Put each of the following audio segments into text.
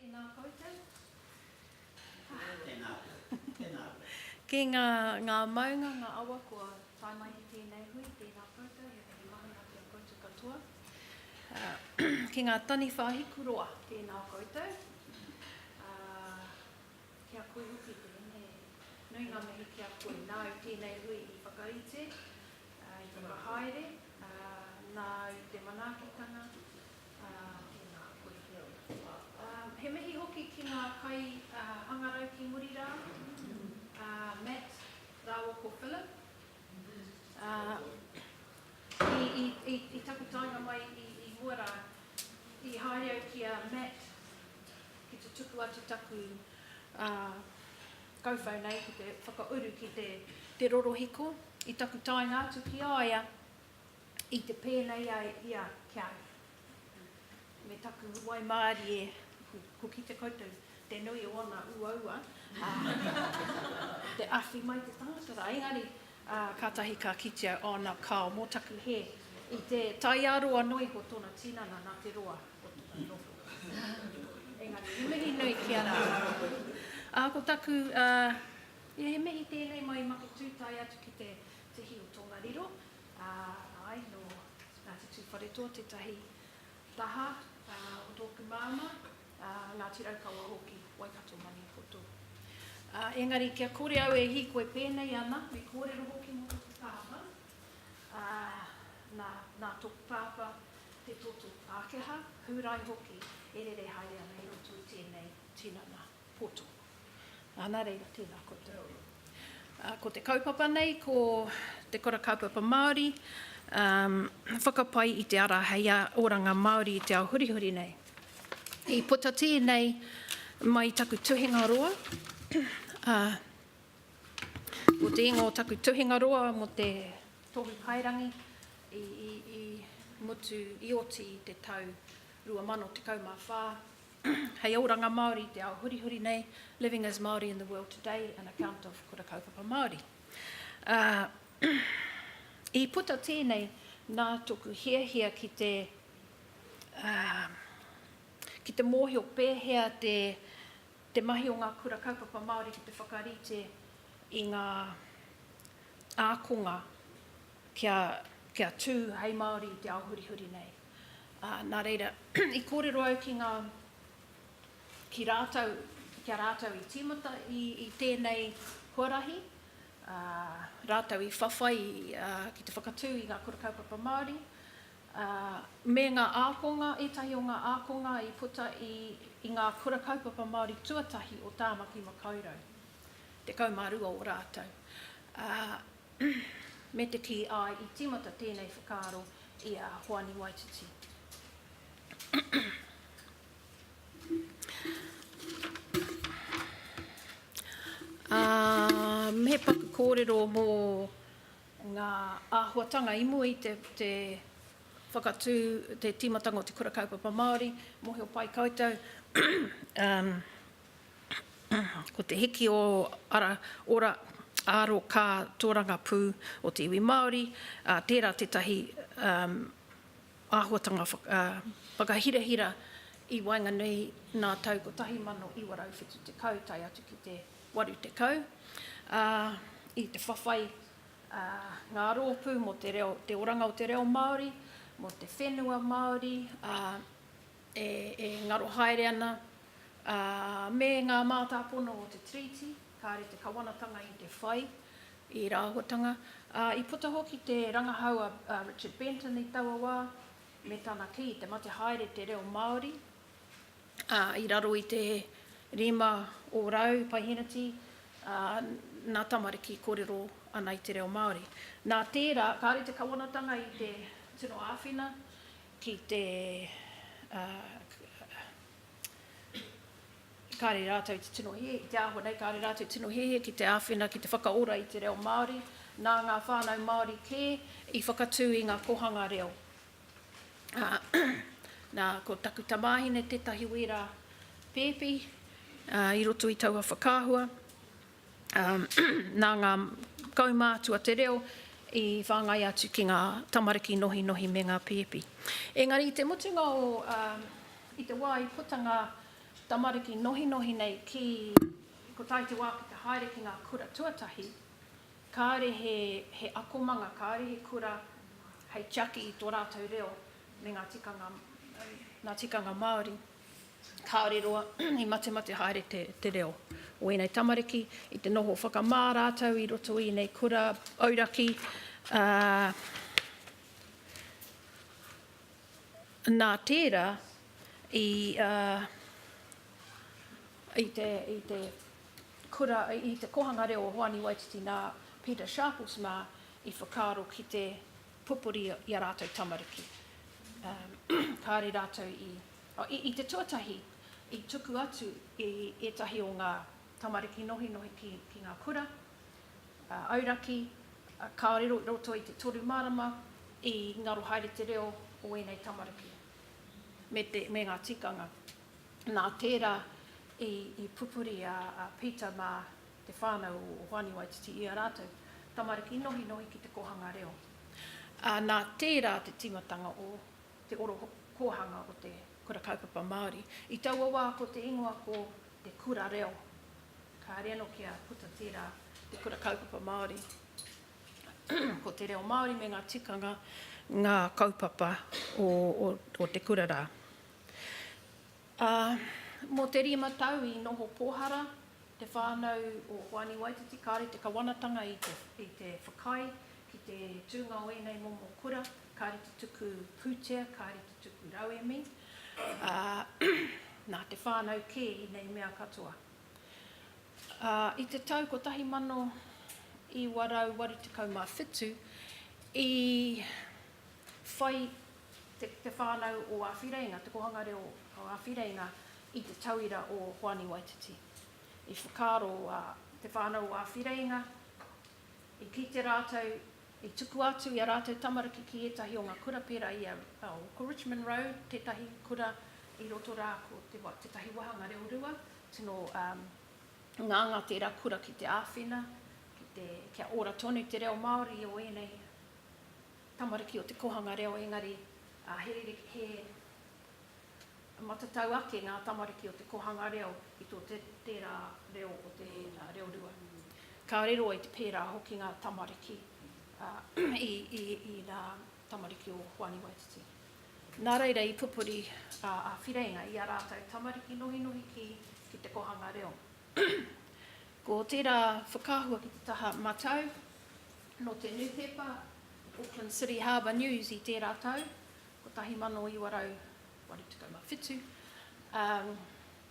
Tēnā koutou. Tēnā koe. Tēnā koe. Ki ngā, ngā maunga, ngā awa kua tae mai ki tēnei hui, tēnā koutou, he mihi mahana ki a koutou katoa. Ki ngā taniwha hiku roa. Tēnā koutou. Ki a koe hoki, tēnei. Nui ngā mihi ki a koe. Nāu tēnei hui i whakarite, I te whakahaere, nā, i te manaakitanga, tēnā koe te au. He mihi hoki ki ngā kai hangarau ki muri rā, Matt rāua ko Philip. I taku taenga mai i mua rā, i haere au ki a Matt ki te tuku atu taku Kauwhau nei ki te whakauru ki te rorohiko i taku taenga atu ki a ia i te pēnei ai ia ki a ia. Me taku waimārie, ko kite koutou te nui o ōna uaua, te awhi mai te tangata rā, engari Ā, kātahi ka kitea ōna kao mō taku hē i te taiaroa noa iho tōna tinana nā te roa o tōna noho. Engari, he mihi nui ki a rātou. Ā, ko taku, ā, ia he mihi tēnei mai i Maketū tae atu ki te tihi o Tongariro, ā, āe, nō Ngāti Tūwharetoa tētahi taha, ā, o tōku māmā. Ngāti Raukawa hoki, Waikato Maniapoto. Ā, engari kia kore au e hīkoi pēnei ana, me kōrero hoki mō tōku pāpā, ā, nā, nā tōku pāpā te toto Pākehā, Hūrai hoki, e rere haere ana i roto i tēnei tinana poto. Ā, nā reira, tēnā koutou. Ā, ko te kaupapa nei, ko Te Kura Kaupapa Māori, ā, whakapai i te ara hei oranga Māori i te ao hurihuri nei. I puta tēnei mai i taku tuhinga roa, ā, ko te ingoa o taku tuhinga roa mō te Tohu Paerangi i, i, i mutu, i oti i te tau 2014, Hei oranga Māori i te ao hurihuri nei, Living as Māori in the World Today, An Account of Kura Kaupapa Māori. I puta tēnei nā toku hiahia ki te ki te mōhio pēhea te te mahi o ngā Kura Kaupapa Māori ki te whakarite i ngā ākonga kia kia tū hei Māori i te ao hurihuri nei. Ā, nā reira, i kōrero au ki ngā, ki rātou, ki a rātou i tīmata i, i tēnei huarahi, ā, rātou i whawhai ki te whakatū i ngā Kura Kaupapa Māori, ā, me ngā ākonga, ētahi o ngā ākonga i puta i, i ngā Kura Kaupapa Māori tuatahi o Tāmaki Makaurau, 12 o rātou. Ā, me te kī, āe, i tīmata tēnei whakaaro i a Hoani Waititi. Ā, he paku kōrero mō ngā āhuatanga i mua i te, te whakatū, te tīmatanga o te Kura Kaupapa Māori, mōhio pai koutou. Ko te hiki o ara, ora, aro, ka, tōrangapū o te iwi Māori, ā, tērā tētahi āhuatanga whakahirahira i waenganui nā tau 1970 tae atu ki te 80, ā, i te whawhai a ngā rōpū mō te reo, te oranga o te reo Māori, mō te whenua Māori, ā, e ngaro haere ana, ā, me ngā mātāpono o te Tiriti, kāore te Kawanatanga i te whai i ērā āhuatanga, ā, i puta hoki te rangahau a Richard Benton i taua wā, me tana kī, te mate haere te reo Māori, ā, i raro i te rima o rau paiheneti, ā, nā tamariki kōrero ana i te reo Māori. Nā tērā, kāore te Kawanatanga i te tino āwhina ki te kāre rātou te tino hēhē ki te āhua nei, kāre rātou tino hēhē ki te āwhina, ki te whakaora i te reo Māori, nā ngā whānau Māori kē i whakatū i ngā kōhanga reo. Nā, ko taku tamāhine tētahi wērā pēpi i roto i taua whakaahua. Nā ngā kaumātua te reo i whāngai atu ki ngā tamariki nohinohi me ngā pēpi. Engari i te mutunga o, i te wā i puta ngā tamariki nohinohi nei ki Kotahi te wā ki te haere ki ngā kura tuatahi, kāore he akomanga, kāore he kura hei tiaki i tō rātou reo me ngā tikanga Māori. Kāore roa i matemate haere te reo o ēnei tamariki i te noho whakamā rātou i roto i ēnei kura auraki, ā, nā tērā i, ā, i te, i te kura, i te Kōhanga Reo o Hoani Waititi nā Peter Sharples mā i whakaaro ki te pupuri i a rātou tamariki. Kāre rātou i, i te tuatahi, i tuku atu i ētahi o ngā tamariki nohinohi ki, ki ngā kura, auraki, kāore i roto i te toru marama i ngaro haere te reo o ēnei tamariki me, te, me ngā tikanga. Nā tērā i, i pupuri a, a Peter mā te whānau o Hoani Waititi i a rātou tamariki nohinohi ki te kōhanga reo, ā, nā tērā te tīmatanga o te oro kōhanga o te Kura Kaupapa Māori. I taua wā ko te ingoa ko Te Kura Reo, kāre anō kia puta tērā te Kura Kaupapa Māori. Ko te reo Māori me ngā tikanga ngā kaupapa o te kura rā. Ā, mō te rima tau i noho pōhara Te whānau o Hoani Waititi kāre te kawanatanga i te whakaae ki te tūnga o ēnei momo kura, kāre te tuku pūtea, kāre te tuku rauemi, ā, nā te whānau kē i nei mea katoa. Ā, i te tau 1987 i whai te whānau o Āwhireinga, te kōhanga reo o Āwhireinga i te tauira o Hoani Waititi. I whakaaro a te whānau o Āwhireinga, i kite rātou, i tukua atu i a rātou tamariki ki ētahi o ngā kura pērā i a, oh, ko Richmond Road tētahi kura i roto rā, ko te, tētahi wāhanga reo rua, tino um, ngāngā tērā kura ki te āwhina, ki te, kia ora tonu te reo Māori o ēnei tamariki o te kōhanga reo engari he rerekē, he matatau ake ngā tamariki o te kōhanga reo i tō tērā reo o te reo rua. Ka riro i te pērā hoki ngā tamariki i ngā tamariki o Hoani Waititi. Nā reira i pupuri a Whireinga i a rātou tamariki nohinohi ki ki te kōhanga reo. Ko tērā whakaahua ki te taha matau Nō te nūpepa Auckland City Harbour News i tērā tau, 1987, ā,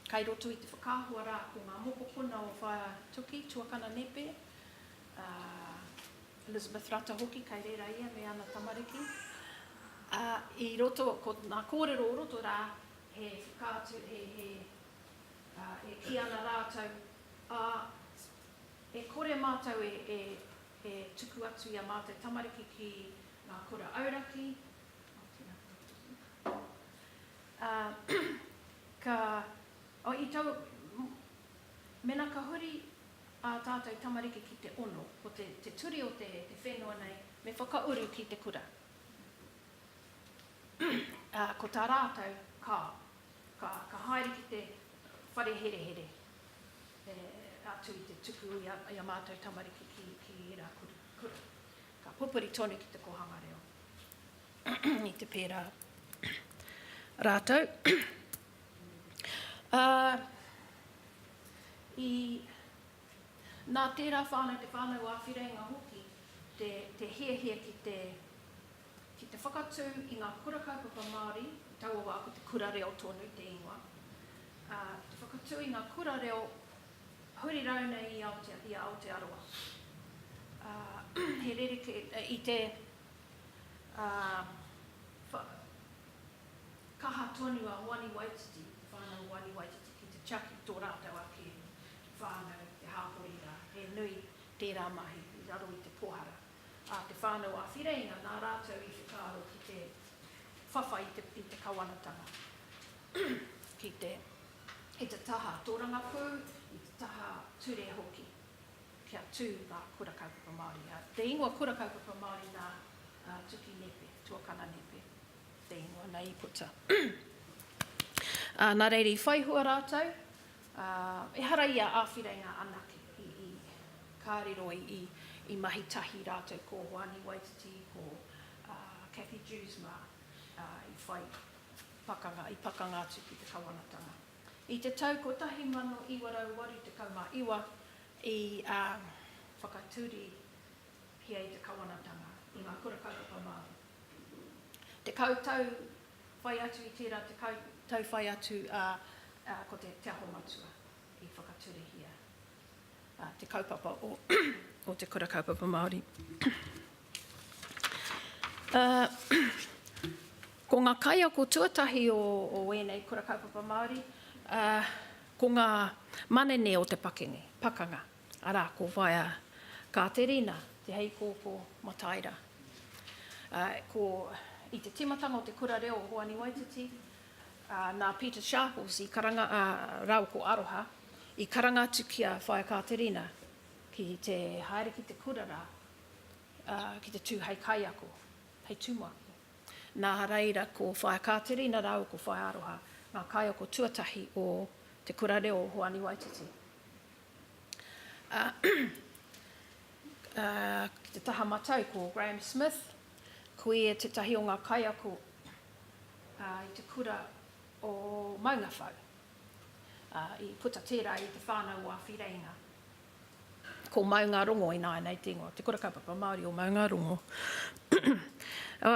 kai roto i te whakaahua rā ko ngā mokopuna o Whātuki, tuakana nepe, a Elizabeth Rata hoki, kai reira ia me ana tamariki, ā, i roto, ko ngā kōrero o roto rā, he whakaatu, he, he, ā, e kī ana rātou, ā, E kore mātou e tuku atu i a mātou tamariki ki ngā kura auraki, mēnā ka huri ā tātou tamariki ki te ono, ko te ture o te whenua nei, me whakauru ki te kura. Ko tā rātou, ka haere ki te whare herehere. E atu i te tuku i a, i a mātou tamariki ki, ki ērā kura, kura. Ka pupuri tonu ki te kōhanga reo. I te pērā rātou. Ā, i, nā tērā whānau, te whānau āwhirenga hoki, te, te hiahia ki te, ki te whakatū i ngā kura kaupapa Māori, i taua wā ko te kura reo tonu te ingoa, ā, ki te whakatū i ngā kura reo huri rau nei i Aotea, i a Aotearoa. Ā, he rerekē, i te, ā, wha, kaha tonu a Hoani Waititi, te whānau o Hoani Waititi ki te tiaki tō rātou ake whānau, te hāpori rā, he nui tērā mahi i raro i te pōhara. a Te Whānau a Whireinga nā rātou i whakaaro ki te whawhai i te kawanatanga ki te i te taha tōrangapū, i te taha ture hoki kia tū ngā Kura Kaupapa Māori. Te ingoa Kura Kaupapa Māori nā Tuki Nepe, Tuakana Nepe te ingoa nei i puta. Nā reira i whaihua rātou, Ā, ehara i a Āwhireina anake i, i ka riro, i, i, i mahi tahi rātou ko Hoani Waititi, ko, ā, Cathy Dewes mā, ā, i whai pakanga, i pakanga atu ki te Kawanatanga. I te tau 1989 i, ā, whakatūrihia i te Kawanatanga, i ngā Kura Kaupapa Māori. Tekau tau whai atu i tērā tekau tau whai atu, ā, ko te Te Aho Matua i whakaturehia te kaupapa o Te Kura Kaupapa Māori. Ko ngā kaiako tuatahi o ēnei Kura Kaupapa Māori, ko ngā manene o te pakanga. Arā, ko wai a Kāterina Te Heikōkō Mataira. Ko i te tīmatanga o te Kura Reo o Hoani Waititi, nā Peter Sharples i karanga rāua ko Aroha, i karanga atu ki a Whaea Kāterina ki te haere ki te kura rā ki te tū hei kaiako, hei tumuaki. Nā reira, ko Whaea Kāterina rāua ko Whaea Aroha ngā kaiako tuatahi o te Kura Reo o Hoani Waititi. ā, ki te taha matau ko Graham Smith, ko ia tētahi o ngā kaiako i te kura o Maungawhau, ā, i puta tērā i te whānau o Awhireinga. Ko Maungarongo ināianei te ingoa, Te Kura Kaupapa Māori o Maungarongo.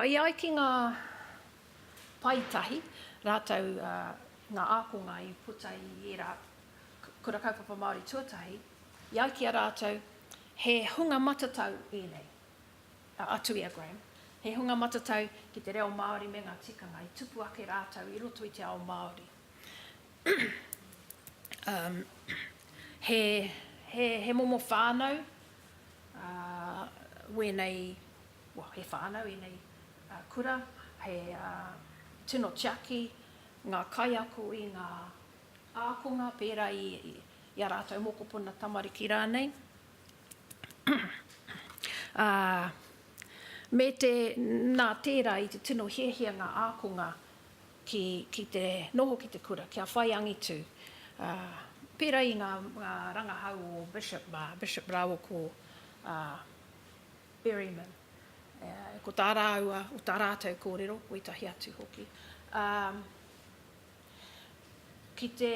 I ai ki ngā Pae tahi rātou ngā ākonga i puta i ērā Kura Kaupapa Māori tuatahi, i ai ki a rātou, he hunga matatau ēnei, a Tuia Graham, he hunga matatau ki te reo Māori me ngā tikanga, i tupu ake rātou i roto i te ao Māori. He momo whānau wēnei he whānau ēnei kura, he tino tiaki ngā kaiako i ngā ākonga pērā i a rātou mokopuna tamariki rānei, ā, me te, nā tērā i te tino hiahia ngā ākonga ki te noho ki te kura, kia whai angitu, ā, pērā i ngā rangahau o Bishop, Bishop rāua ko Berryman. Ko tā rāua, o tā rātou kōrero, koitahi atu hoki, ā, ki te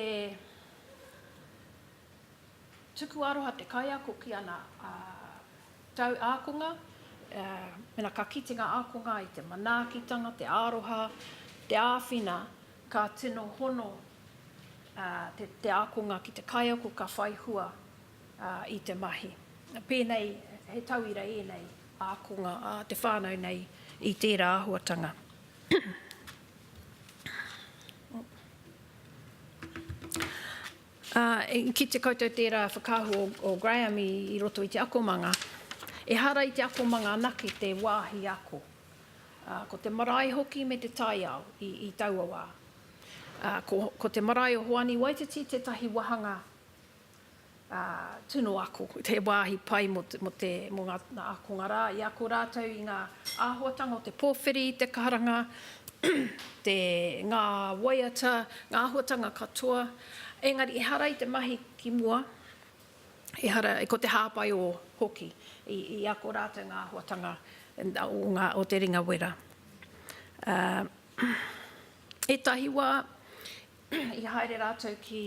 tuku aroha te kaiako ki ana tau ākonga, mēnā ka kite ngā ākonga i te manaakitanga, te aroha, te āwhina, ka tino hono te ākonga ki te kaiako ka whai hua. i te mahi. Pēnei, he tauira ēnei ākonga a te whānau nei i tērā āhuatanga. Ki te koutou tērā whakaahua o Graham i roto i te akomanga, ehara i te akomanga anake te wāhi ako. Ko te marae hoki me te taiao i taua wā. Ko te marae o Hoani Waititi tētahi wāhanga. tunu ako, he wāhi pai mō ngā ākonga rā i ako rātou i ngā āhuatanga o te pōwhiri, te karanga, ngā waiata, ngā āhuatanga katoa. Engari ehara i te mahi ki mua, ehara, ko te hāpai o hoki i ako rātou ngā āhuatanga o te ringa wera. Ētahi wā, I haere rātou ki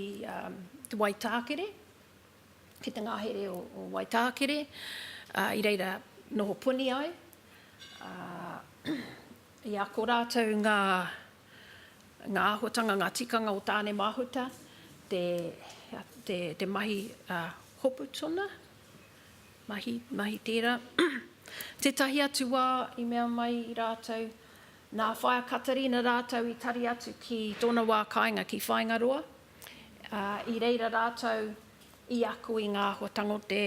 Te Waitākere, ki te ngahere o Waitākere, i reira noho puni ai, ā, i ako rātou ngā, ngā āhuatanga, ngā tikanga o Tāne Mahuta, te, te, te mahi hopu tuna, mahi, mahi tērā. Tētahi atu wā i mea mai rātou, Nā Whaea Katerina rātou i tari atu ki tōna wā kāinga ki Whāingaroa, ā, i reira rātou i ako i ngā āhuatanga o te,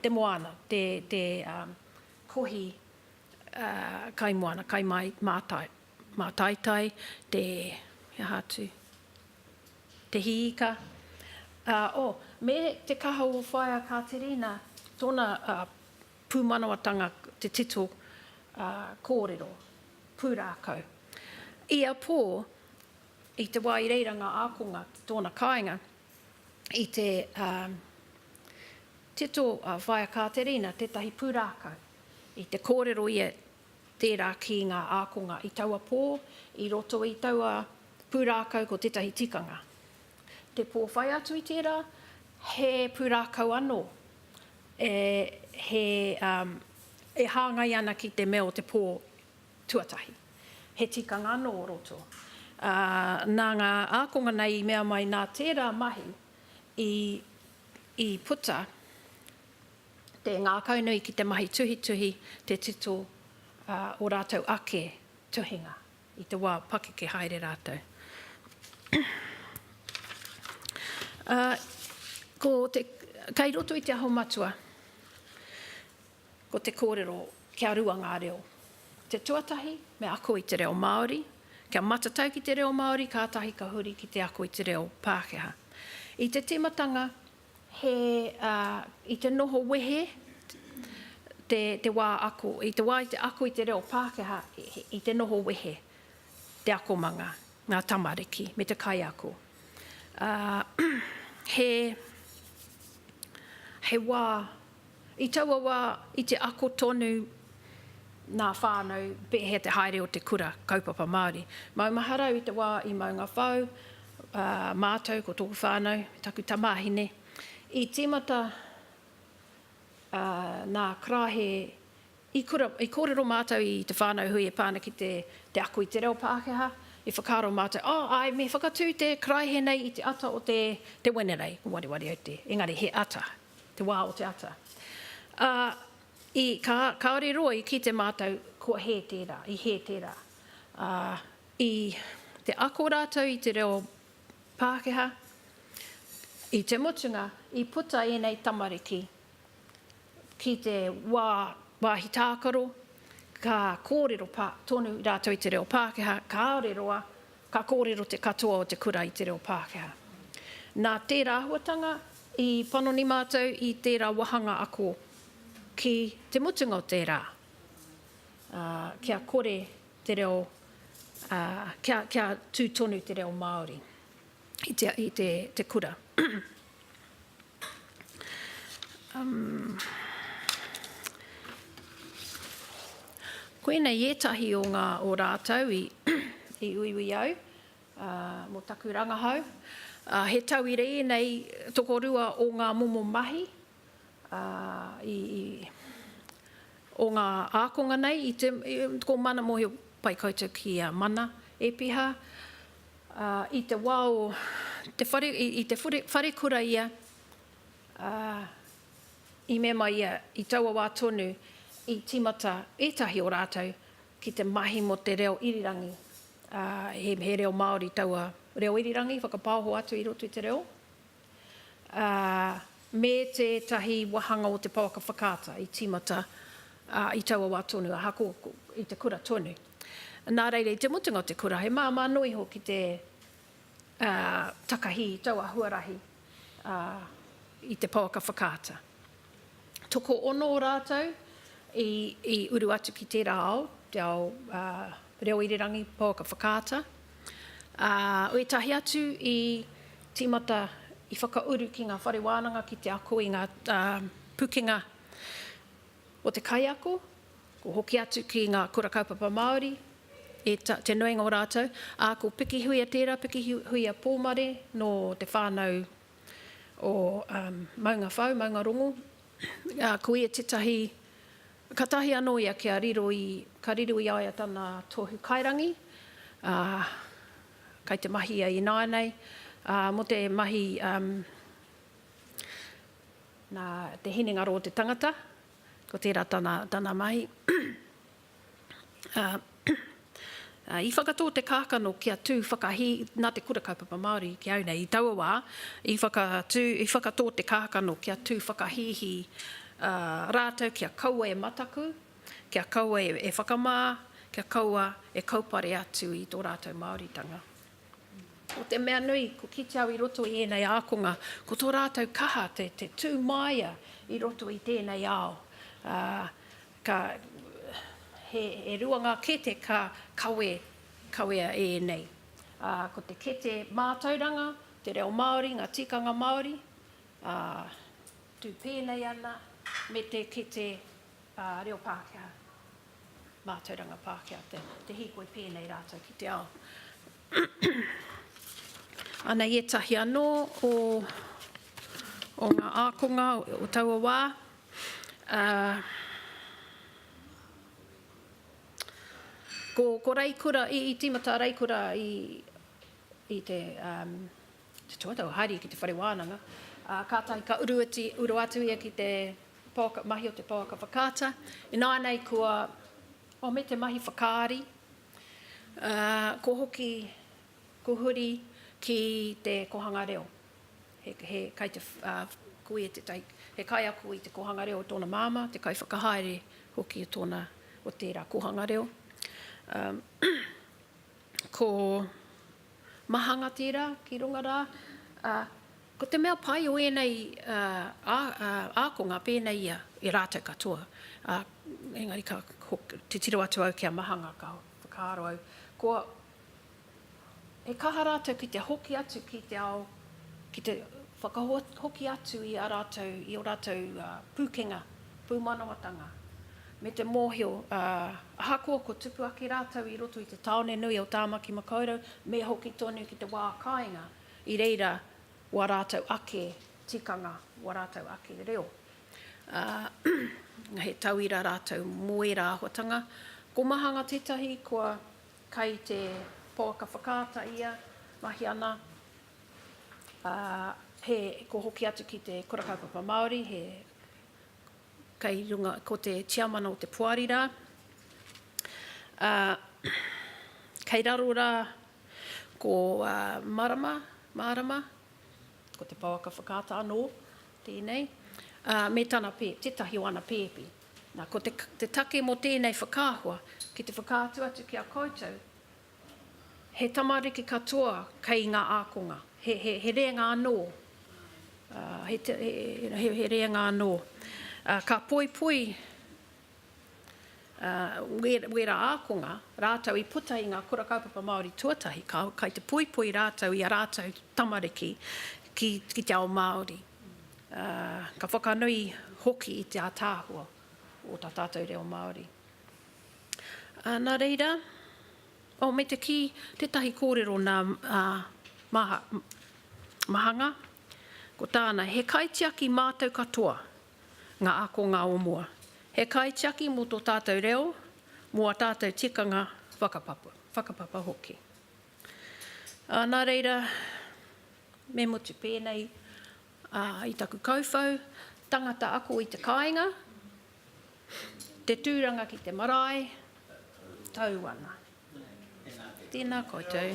te moana, te, te, ā, kohi, ā, kai moana, kai māi, mātai, mātaitai, te, he aha atu, te hiika, ā, ō, me te kaha o Whaea Katerina, tōna, ā, Pūmanawatanga te tito kōrero pūrākau. Ia pō, i te wā i reira ngā ākonga ki tōna kāinga, i te tito a Whaea Kāterina tētahi pūrākau, i te kōrero ia tērā ki ngā ākonga i taua pō, i roto i taua pūrākau ko tētahi tikanga. Te pō whai atu i tērā, he pūrākau anō e he um e hāngai ana ki te mea o te pō tuatahi. He tikanga anō o roto. Ā, nā ngā ākonga nei i mea mai nā tērā mahi i i puta te ngākaunui ki te mahi tuhituhi te tito ā, o rātou ake tuhinga. I te wā pakeke haere rātou. Ā, ko te, kei roto i te Aho Matua, ko te kōrero, kia rua ngā reo. Te tuatahi, me ako i te reo Māori, kia matatau ki te reo Māori, kātahi ka huri ki te ako i te reo Pākehā. I te tīmatanga, He, ā, i te noho wehe te, te wā ako. I te wā i te ako i te reo Pākehā, i te noho wehe te akomanga, ngā tamariki me te kaiako. Ā, he, he wā I taua wā, i te ako tonu ngā whānau pēhea te haere o te kura kaupapa Māori. Maumahara au i te wā i Maungawhau, ā, mātou ko tōku whānau me taku tamāhine i tīmata, ā, nā karaehe i kura, i kōrero mātou i te whānau hui e pā ana ki te ako i te reo Pākehā, i whakaaro mātou, oh, āe, me whakatū te karaehe nei i te ata o te Wenerei, ko Wareware au te, engari he ata. te wā o te ata. Ā, i, ka, kāore roa i kite mātou kua hē tērā, i hē tērā. Ā, i te ako rātou i te reo Pākehā, i te mutunga, i puta ēnei tamariki ki te wā, wāhi tākaro, ka kōrero pā, tonu rātou i te reo Pākehā, kāore roa Ka kōrero te katoa o te kura i te reo Pākehā. Nā tērā āhuatanga i panoni mātou i tērā wāhanga ako ki te mutunga o te rā, ā, kia kore te reo, ā, kia, kia tū tonu te reo Māori i te, i te, te kura. Koinei etahi o nga o ratou i i uiui au mo taku rangahau. He tauira enei tokorua o nga momo mahi o nga akonga nei, ko Mana Mohio Pai koutou ki a Mana Epiha. Ā, i te wā o te whare, i te wharekura ia, ā, i mema ia i taua wā tonu i tīmata ētahi o rātou ki te mahi mō te reo irirangi, ā, he reo Māori taua reo irirangi whakapaoho atu i roto i te reo. ā, me tētahi wāhanga o te pouaka whakaata i tīmata i taua wā tonu, ahakoa i te kura tonu. Nā reira, i te mutunga o te kura, he māmā noa iho ki te takahi i taua huarahi i te pouaka whakaata. tokoono o rātou i, i uru atu ki tērā ao, te ao reo irirangi, pouaka whakaata. Ā, ētahi atu i tīmata, i whakauru ki ngā whare wānanga ki te ako i ngā pukenga o te kaiako, ko hoki atu ki ngā kura kaupapa Māori, e ta, te nuinga o rātou, ā, ko Pikihuia tērā, Pikihuia Pōmare nō te whānau o Maunga Whau, Maunga Rongo, a, ko ia tetahi, katahi ano ia kia riro i, ka riro i a ia tana tohu kairangi, a, kai te mahi ia ināianei, a, mo te mahi, um, na te hinengaro o te tangata, ko tera tana, tana mahi. I whakatō te kākano kia tū whakahī nā te Kura Kaupapa Māori ki au nei. I taua wā, i whakatō te kākano kia tū whakahīhī rātou kia kaua e mataku, kia kaua e whakamā, kia kaua e kaupare atu i tō rātou Māoritanga. Ko te mea nui, ko kite au i roto i ēnei ākonga, ko tō rātou kaha te tūmāia i roto i tēnei ao. Ka, he, e rua ngā kete ka kawe, kawea e ēnei. Ā, ko te kete mātauranga, te reo Māori, ngā tikanga Māori, ā, tū pēnei ana me te kete, ā, reo Pākehā, mātauranga Pākehā, te, te hīkoi pēnei rātou ki te ao. Ana i ētahi anō o, o ngā ākonga o taua wā, Ā, ko, ko Raikura, i, i tīmata a Raikura i, i te, ā, te tuataua haere ki te whare wānanga, ā, kātahi ka uru atu, uru atu ia ki te pouaka, mahi o te pouaka whakaata. Ināianei kua, oh, me te mahi whakaari, ā, ko hoki, ko huri ki te kohanga reo. He kai te kui e tētahi, he kaiako i te kōhanga reo o tōna māmā, te kaiwhakahaere hoki o tōna, o tērā kōhanga reo. Ko mahanga tērā ki runga rā. Ko te mea pai o ēnei ākonga pēnei ia e rātou katoa, engari ka titiro atu au ki a mahanga ka whakaaro au, kua. He kaha rātou ki te hoki atu ki te ao, ki te whakahoki atu i a rātou, i ō rātou pūkenga, pūmanawatanga, me te mōhio, ā, ahakoa kua tupu ake rātou i roto i te tāone nui o Tāmaki Makaurau, me hoki tonu ki te wā kāinga, i reira wā rātou ake tikanga, wā rātou ake reo. Ā, he tauira rātou mō ērā āhuatanga. Ko Mahanga tētahi kua Kai te pouaka whakaata ia, mahi ana, ā, he, ko hoki atu ki te Kura Kaupapa Māori, he kei runga, ko te tiamana o te poari rā. Ā, kei raro rā ko Marama, Mārama, ko te pouaka whakaata anō tēnei, ā, me tana pē, tētahi o ana pēpi. Nā, ko te, te take mō tēnei whakaahua, ki te whakaatu atu ki a koutou, he tamariki katoa kei ngā ākonga, he, he, he rēnga anō, ā, he, te, he, he, he rēnga anō. Ā, ka poipoi ā, wē, wērā ākonga rātou i puta i ngā Kura Kaupapa Māori tuatahi, ka, kai te poipoi rātou i a rātou tamariki ki, ki te ao Māori. ā, ka whakanui hoki i te ātaahua o tā tātou reo Māori. Ā, nā reira, oh, me te kī, tētahi kōrero nā Maha, Mahanga, ko tāna, he kaitiaki mātou katoa, ngā ākongā o mua, he kaitiaki mō tō tātou reo, mō ā tātou tikanga whakapapa, whakapapa hoki. Ā, nā reira, Me motu pēnei i taku kauwhau, tangata ako i te kāinga, te tūranga ki te marae, tau ana. Tēnā koutou.